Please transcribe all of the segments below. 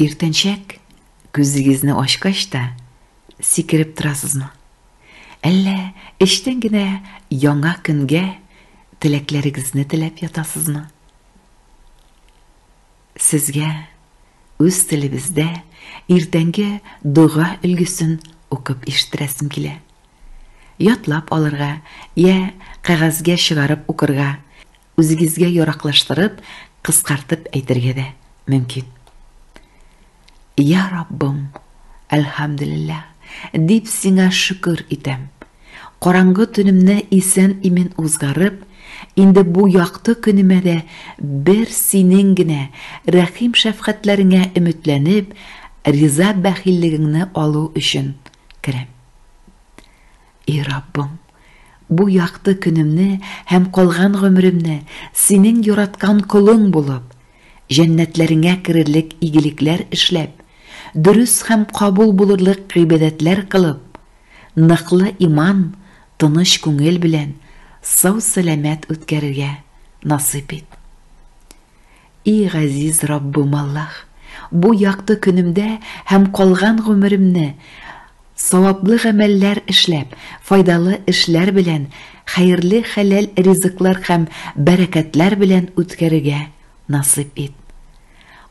Иртәнчәк күзегезне ачкач та сикереп торасызмы? Әллә эчтән генә яңа көнгә теләкләрегезне теләп ятасызмы? Сезгә үз телебездә иртәнге дога өлгесен укып ишеттерәсем килә. Ятлап алырга я кәгазьгә чыгарып укырга Үзегезгә яраклаштырып, кыскартып әйтергә дә мөмкин. Я Раббым, әлхәмдүлилләһ, дип сиңа шөкер итәм. Караңгы төнемне исән-имин узгарып, инде бу якты көнемә дә бер синең генә рәхим-шәфкатьләреңә өметләнеп, риза бәхиллегеңне алу өчен керәм. И Раббым, бу якты көнемне һәм калган гомеремне Синең яраткан колың булып, җәннәтләреңә керерлек игелекләр эшләп, дөрес һәм кабул булырлык гыйбадәтләр кылып, ныклы иман, тыныч күңел белән сау-сәламәт үткәрергә насыйп ит. И Газиз Раббым Аллаһ! Бу якты көнемдә һәм калган гомеремне саваплы гамәлләр эшләп, файдалы эшләр белән, хәерле хәләл ризыклар һәм бәрәкәтләр белән үткәрергә насыйп ит.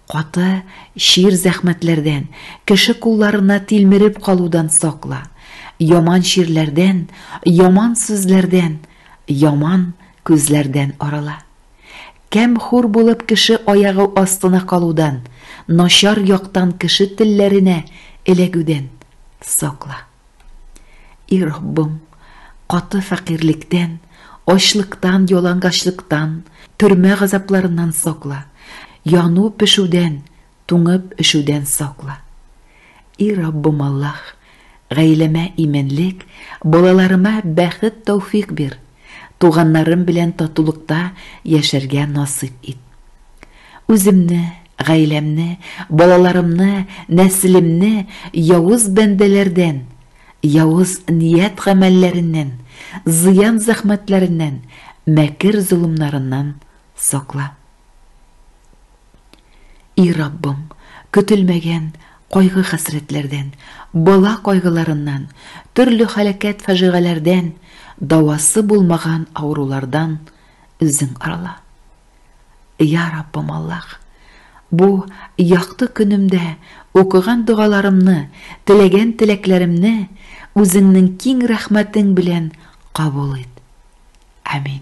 Каты, чир зәхмәтләрдән, кеше кулларына тилмереп калудан сакла. Яман чирләрдән, яман сүзләрдән, яман күзләрдән арала. Камьхур булып кеше аягы астына калудан, начар яктан кеше телләренә эләгүдән сакла. И Раббым, каты фәкыйрьлектән, ачлыктан, ялангачлыктан, төрмә газапларыннан сакла, яну-пешүдән, туңып-өшүдән сакла. И Раббым Аллаһ, гаиләмә иминлек, балаларыма бәхет-тәүфик бир. Туганнарым белән татулыкта яшәргә насыйп ит. Үземне, гаиләмне, балаларымны, нәселемне явыз бәндәләрдән, явыз ният-гамәлләреннән, зыян-зәхмәтләреннән, мәкер-золымнарыннан сакла. И Раббым, көтелмәгән кайгы-хәсрәтләрдән, бала кайгыларыннан, төрле һәлакәт-фаҗигаләрдән, дәвасы булмаган авырулардан Үзең арла. Я Раббым Аллаһ, бу якты көнемдә укыган догаларымны, теләгән теләкләремне Үзеңнең киң рәхмәтең белән кабул ит. Амин.